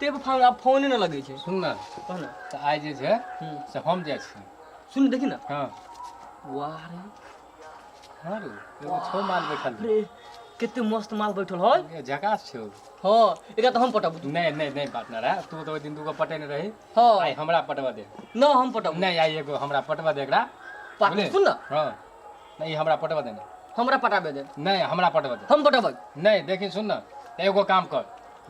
ते पर फोन आब फोने नहि लगै छै सुन ने कह ने तऽ आइ जे छै हूँ। से हम जाइ छी सुन देखी ने हँ वाह रे हँ रे एगो छौ माल बैठल रे कते मस्त माल बैठल है ए, झकास छौ हाँ एकरा तऽ हम पटाबू तू नहि नहि नहि बात ना रहा तू तऽ ओहि दिन दूगो पटेने रही हाँ आइ हमरा पटवा दे ना हम पटाबू नहि आइ एगो हमरा पटवा दे एकरा पाट बोले? सुन ना हँ नहि ई हमरा पटवा दे ने हमरा पटाबे दे नहि हमरा पटवा दे हम पटाबै नहि देखी सुन ने एगो काम कर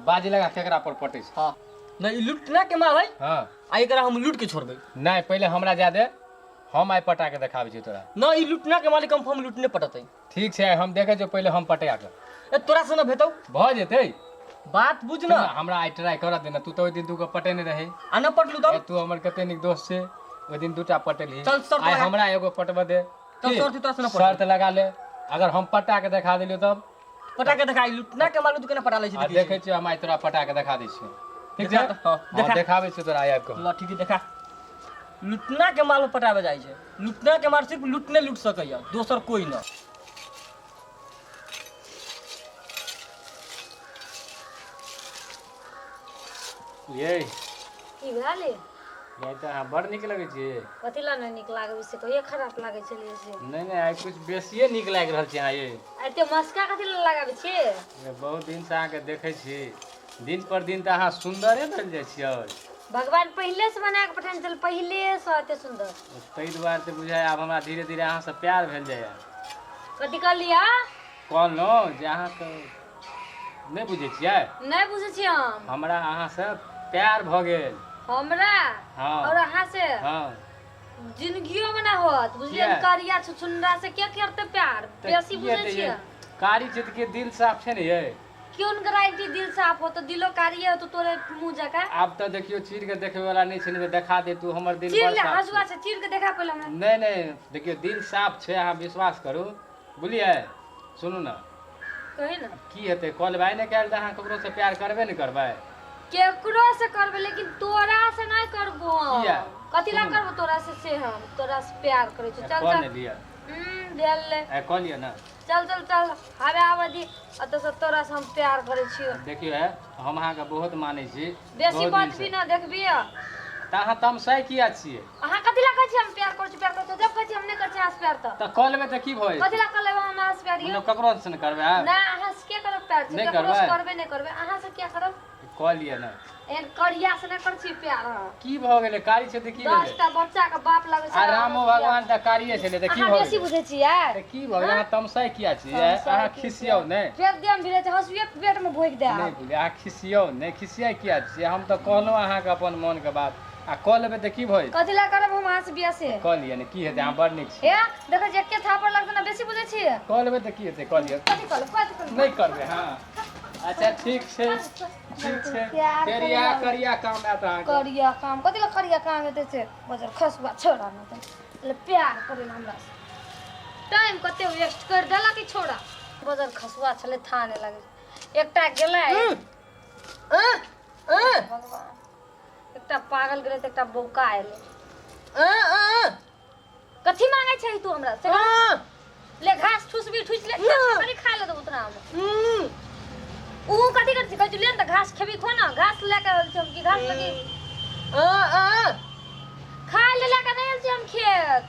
बाजी लगा केकरा पर पटे छै हाँ ना ई लुटना के माल है हाँ आ एकरा हम लूट के छोड़बै नहीं पहले हमरा जा दे हम आइ पटा के देखाबै छी तोरा ना ई लुटना के मालिक कंफर्म लुटने पटतै ठीक छै आइ हम देखे छियौ पहले हम पटा के ए तोरा से ना भेटौ भऽ जेतै बात बुझ सुन ना ने, हमरा आइ ट्राई करऽ दे ने तू तऽ ओहि दिन दूगो पटेने रही आ ना पटलू तब ए, तू हमर कते नीक दोस्त छै ओहि दिन दूटा पटेलही चल, शर्त आइ लगा। हमरा एगो पटबऽ दे चल, की? शर्त तोरा से ना पटबै। शर्त लगा ले अगर हम पटा के देखा देलियौ तब पटा के देखा लुटना के मालूम तू केना पटा ले आ छै देखै छियै हम आइ तोरा पटा के देखा दै छियै ठीक देखा छै तऽ, हँ, हँ, देखा। देखाबै छियै तोरा आइ आबि कऽ लठी के देखा लुटना के माल पटाबे जाइ छै लुटना के माल सिर्फ लुटने लुट सकैया दोसर कोई ना ये की भेल ये ये तऽ अहाँ बड़ नीक लगै छियै कथी लए नहि नीक लागबै से कहिए खराब लागै छलै से नहि नहि आइ किछु बेसिए नीक लागि रहल छै अहाँ ये एते मस्का कथी लए लगाबै छियै ये, बहुत दिनसँ अहाँके देखै छी दिन पर दिन तऽ अहाँ सुन्दरे भेल जाइ छियै भगवान पहिले से बना के पठाने छल पहिले से एते सुंदर ताहि दुआरे तऽ बुझाय आब हमरा धीरे धीरे अहाँसँ प्यार भेल जाइए कथी कहलियै कहलहुँ जे अहाँके नहि बुझै छियै नहि बुझै छियै हम हमरा अहाँसँ प्यार भऽ गेल हमरा हँ और अहाँ से हँ जिंदगियो में ना होत बुझलिए किया? करिया छुछुनरा से के करते प्यार तऽ बेसी की बुझै हेतै छियै ये? कारी चितके दिल साफ छै ने ये क्यों ने गारंटी दिल साफ हो तो दिलो कारिये हो तो तोरे मुंह जका आब तऽ देखियो चीर के देखे वाला नहि छै ने देखा दे तू हमर दिल चीर बड़ ले साफ हसुआ छै। से चीर के देखा पहिले हमरा नहि नहि देखियो दिल साफ छै अहाँ विश्वास करू बुझलियै सुनू ने कही ने की हेतै कॉल भाई ने कयल तऽ अहाँ ककरो से प्यार करबे ने करबै केकरो से करबे लेकिन तोरा से नहीं करबो हम। किया? कथी ला सुनू। करबो तोरा से से हम तोरा से प्यार करे छी चल कॉल चल ने लिअ हम्म, भेल ले ए, कॉल लिअ ने चल चल चल हवे आवे दी अत से तोरा से हम प्यार करे छी देखियो है हम अहाँके बहुत मानै छी बेसी भौजी बजबी से। ना देखबी आ तऽ अहाँ तमसाइ किया छियै अहाँ कथी ला कहै छी हम प्यार करै छी प्यार करै छी जब कहै छी हम नहि करै छी अहाँ से प्यार तऽ तऽ कऽ लेबै तऽ की भऽ कथी जेतै ला कऽ लेबै हम अहाँ से प्यार यौ मतलब ककरो से ने करबै आब ना अहाँ से के करब प्यार छी नहि ककरो से करबै? करबे नहि करबै अहाँ से क्या करब कऽ लिअ ने एहन करिया से नहि करै छी प्यार अहाँ की भऽ गेलै कारी छै तऽ की भेलै दसटा बच्चा के बाप लगै छै आ रामो भगवान तऽ कारिये छलै तऽ की अहाँ भऽ बेसी गेलै बुझै छियै तऽ की भऽ गेलै अहाँ तमसाइ किया छियै तमसाइ अहाँ की खिसियाउ छियै? ने फेर देम भिड़े छै हँसुए पेट में भोंकि दे नहि अहाँ खिसियौ नहि खिसियाइ किया छियै हम तऽ कहलहुँ अहाँके अपन मोनके बात आ कऽ लेबै तऽ की भइल कथी लए करब हम अहाँसँ बियाह से कऽ लिअ ने की हेतै अहाँ बड़ नीक छी ए देखै छियै एके थापर लगतै ने बेसी बुझै छियै कऽ लेबै तऽ की हेतै कऽ लिअ कथी कऽ लेब कथी कऽ लेब नहि करबै हँ अच्छा ठीक छै ठीक छै प्यार फेर करिया। इएह करिया काम आयत अहाँके करिया काम कथी लए करिया काम हेतै से बजर खसुआ छोड़ा ने तै ले प्यार करै लए हमरा से टाइम कते वेस्ट कर देलक ई छोड़ा बजर खसुआ छलै थाने लगे एकटा गेलै भगवान एकटा पागल गेलै तऽ एकटा बौका एलै कथी मांगे छै तू हमरा से ले घास ठुसबी ठुस ले खाली खा ले उतना हम ऊ कथी करती कहै छै ले तऽ घास खेबी खो ना घास ले के आयल छी हम कि घास लगी खाय ले ले के नहीं आयल छी हम खेत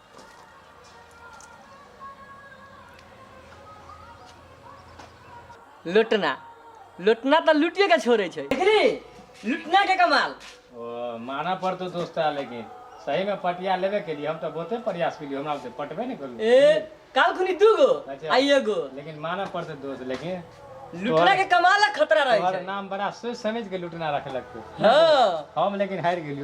लुटना लुटना तो लुटिए के छोड़े छै देखली लुटना के कमाल ओ माना पड़तो दोस्ता लेकिन सही में पटिया लेबे के लिए हम तो बहुते प्रयास केलिए हमरा से पटबे नहीं करलू ए काल खुनी दू गो अच्छा। आ एगो लेकिन माना पड़तो दोस्त लेकिन लुटना के कमाल आ खतरा रहे तोहर छै नाम बड़ा सोच समझ के लुटना रखलक तू हाँ हम लेकिन हार गेलियो